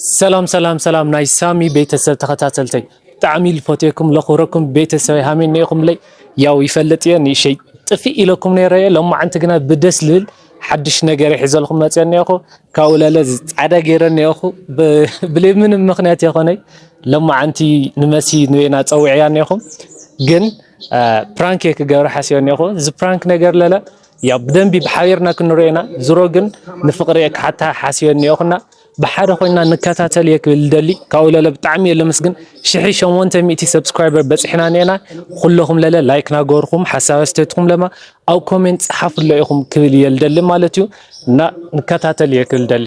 ሰላም ሰላም ሰላም ናይ ሳሚ ቤተሰብ ተኸታተልተይ ብጣዕሚ ልፈትየኩም ለኽብረኩም ቤተሰብ ሃመይ ኒኢኹምለይ ያው ይፈልጥ እየ ንእሸይ ጥፊእ ኢለኩም ነይረ እየ ሎማዓንቲ ግና ብደስ ልብል ሓድሽ ነገር ይሕዘልኩም መፅአ እኒአኹ ካብኡ ለለ ፃዕዳ ገይረ እኒአኹ ብለይ ምንም ምክንያት የኾነይ ሎማዓንቲ ንመሲ ንበይና ፀዊዕያ እኒአኹም ግን ፕራንክ እየ ክገብረ ሓሲበ እኒአኹ እዚ ፕራንክ ነገር ለለ ያው ብደንቢ ብሓቢርና ክንሪኦ ኢና ዝሮ ግን ንፍቅሪ እየ ክሓታ ሓሲበ እኒኦኹ እና ብሓደ ኮይና ንከታተል እየ ክብል ደሊ ካብኡ ለለ ብጣዕሚ እየ ለምስግን ሽሒ ሸሞንተ ሚእቲ ሰብስክራይበር በፂሕና እኒኤና ኩለኹም ለለ ላይክ ናገበርኩም ሓሳብ ኣስተያየትኩም ለማ ኣብ ኮሜንት ፀሓፍሎ ኢኹም ክብል እየ ልደሊ ማለት እዩ እና ንከታተል እየ ክብል ደሊ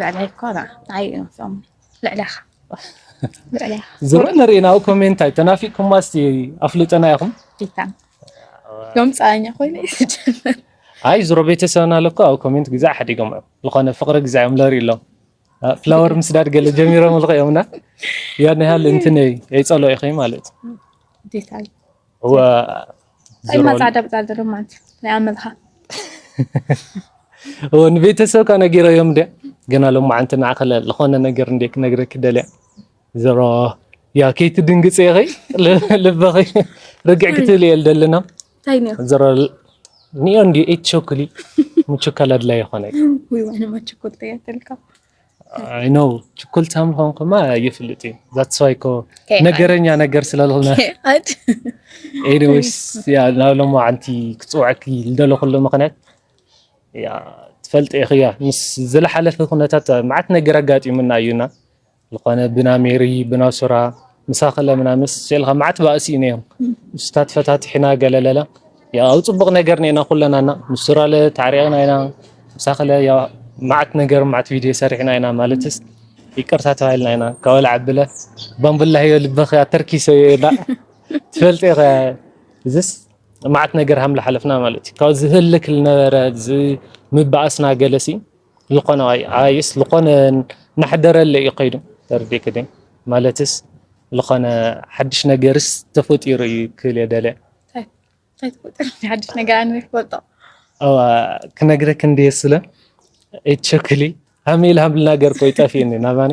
ልዕለይ እኮ ንዓይ እዮም ዝሰሙ ልዕለኻ ዝርእ ንርኢና ኣብ ኮሜንት ኣይተናፊቅኩማ እስቲ ኣፍልጠና ኢኹም ዮም ፀኣኛ ኮይኑ ይጀምር ኣይ ዝሮ ቤተሰብና ኣለኮ ኣብ ኮሜንት ግዜ ሓዲጎም እዮም ዝኾነ ፍቅሪ ግዜ እዮም ለርኢ ኣሎም ፍላወር ምስዳድ ገለ ጀሚሮም ልኸ እዮምና ያን ያህል እንትን የይፀልኦ ኢኸይ ማለት እዩ እማ ፃዕዳ ብፃዕዳ ዶ ማለት ናይ ኣመልካ ንቤተሰብካ ነጊረዮም እንደ ገና ሎማዓንቲ ንዓኺ ዝኾነ ነገር እንደ ክነግረኪ ደልያ ዘሮ ያ ከይትድንግፅ ኢኺ ልበኺ ርግዕ ክትብል እየ ደለና ዘሮ ኒኦ እንዲ ኤት ቾክሊ ምቹካል ኣድላይ ይኾነ እዩ ኣይ ኖው ችኮልታ ምዃንኩማ ይፍልጥ እዩ ዛትስ ዋይ እኮ ነገረኛ ነገር ስለልሆነ ኤኒዌይስ ያ ናብ ሎማዓንቲ ክፅውዐኪ ዝደለኹሉ ምኽንያት ያ ትፈልጢ ኢኺ ያ ምስ ዝለሓለፈ ኩነታት መዓት ነገር ኣጋጢሙና እዩና ዝኾነ ብና ሜሪ ብና ሱራ ምሳኺ ለምና ምስ ስእልኻ መዓት ባእሲ እዩ ነይሩ ምስታት ፈታትሕና ገለለለ ያው ጽቡቕ ነገር ነና ኩለናና ምስ ሱራለ ተዓሪቕና ኢና ምሳኽለ ያው መዓት ነገር መዓት ቪድዮ ሰሪሕና ኢና ማለትስ ይቅርታ ተባሂልና ኢና ካብ ወላ ዓብለ ባምቡላ ህዮ ልበኺ ኣተርኪሶ እየ ኢላ ትፈልጢ ኢኸ እዚስ መዓት ነገር ሃም ሓለፍና ማለት እዩ ካብ ዝህልክ ዝነበረ ምባእስና ገለሲ ልኾነ ኣይስ ልኾነ ናሕደረለ እዩ ከይዱ ተርዲክ ደ ማለትስ ልኾነ ሓድሽ ነገርስ ተፈጢሩ እዩ ክብል የደለ ሓድሽ ነገር ኣነ ይፈልጦ ኣዋ ክነግረክ እንደ ስለ እቸክሊ ሃመይ ልሃምልና ገር ኮይ ጠፊእኒ ናባኒ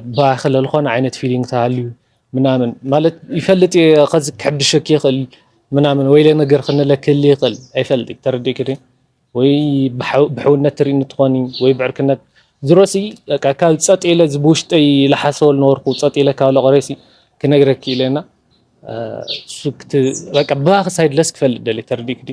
እባ ክለ ልኾነ ዓይነት ፊሊንግ ተሃልዩ ምናምን ማለት ይፈልጥ እየ ከዚ ክሕብሸክ ይኽእል ምናምን ወይለ ነገር ክንለ ክህሊ ይኽእል ኣይፈልጥ ተረዲእክ ዶ ወይ ብሕውነት ትርኢ እንትኾኒ ወይ ብዕርክነት ዝሮሲ በቃ ካብ ፀጥ ኢለ እዚ ብውሽጠይ ልሓሰቦ ዝነበርኩ ፀጥ ኢለ ካብ ለቕሬሲ ክነግረክ ኢለና በቃ ብባኺ ሳይድ ለስ ክፈልጥ ደልየ ተረዲእክ ዶ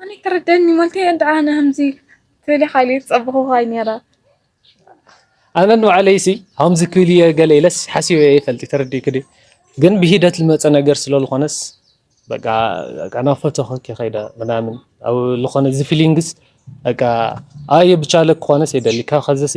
ኣነ ክርደኒ ሞልቲ እንድዓ ንህምዚ ትብሊ ሓይሊ ዝጸበኹኻ ነይረ ኣነ ንባዕለይሲ ሃምዚ ክብል እየ ገለ ኢለስ ሓሲበ ይፈልጥ ተረዲእክ ዲ ግን ብሂደት ዝመፀ ነገር ስለዝኾነስ በቃ ናብ ፎቶ ከይደ ምናምን ኣብ ዝኾነ እዚ ፊሊንግስ በቃ ኣየ ብቻለ ክኾነስ የደሊ ካብ ከዘሲ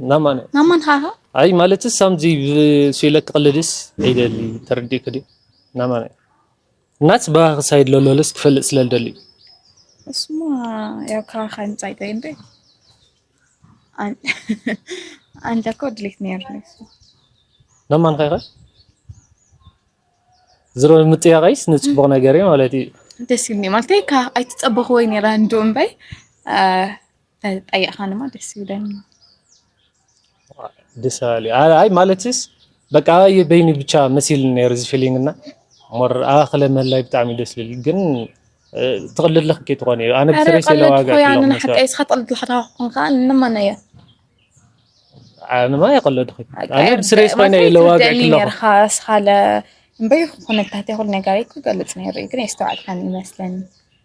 ናማን ናማን ሃሃ ኣይ ማለትስ ሳምዚ ስኢለክ ክቕልድስ ይደሊ ተረዲእክ ድዩ ናማን ናት ባህ ክሳይድ ለሎልስ ክፈልጥ ስለ ልደሊ እሱማ ያው ካኻ ንጻይ ጠይ እንዴ ኣንተ እኮ ድሌት ነይሩ ናማን ኸይኸ ዝሮ ምጥያቐይስ ንጽቡቕ ነገር ማለት እዩ ደስ ይብኒ ማለት ኣይትጸበኽዎይ ነይራ እንዶ እምበይ ጠየቅኻኒ ማ ደስ ይብለኒ ደስ ኣለ ኣይ ማለትስ በቃ በይኒ ብቻ መሲል ነይሩ እዚ ፊሊንግ እና ሞር ኣክለ መላይ ብጣዕሚ ደስ ልል ግን ትቕልልኽ ኬ ትኾነ እዩ ኣነ ብስሪ ስለዋጋ ኣነ ሓቂ እስኻ ትቕልልኻ ታኾን ከዓ ንማና እያ ኣነማ የቐለድኹ ኣነ ብስሪ ስኮይነ ለዋጋ ክለኻ እስኻ እምበይ ኩነታት ይኹን ነገር ይክገልጽ ነይሩ ግን የስተዋዕልካን ይመስለኒ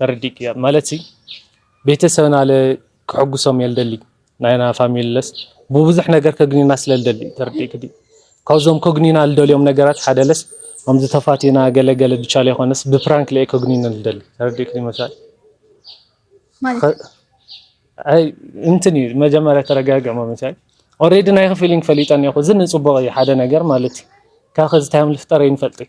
ተረዲእኪ እያ ማለትሲ ቤተሰብና ለ ክሕጉሶም እየ ልደሊ ናይና ፋሚሊ ለስ ብብዙሕ ነገር ከግኒና ስለ ልደሊ ተረዲእኪ ዲ ካብዞም ከግኒና ልደልዮም ነገራት ሓደ ለስ ከምዚ ተፋቲና ገለ ገለ ብቻ ለይኮነስ ብፕራንክ ለየ ከግኒነ ልደሊ ተረዲእኪ ዲ መሳይ ማለት ኣይ እንትን እዩ መጀመሪያ ተረጋግዕ መመሳይ ኦሬዲ ናይኺ ፊሊንግ ፈሊጠኒ እኮ እዚ ንፅቡቕ እዩ ሓደ ነገር ማለት እዩ ካብ ከዚ ታይም ልፍጠር ይንፈልጥ እዩ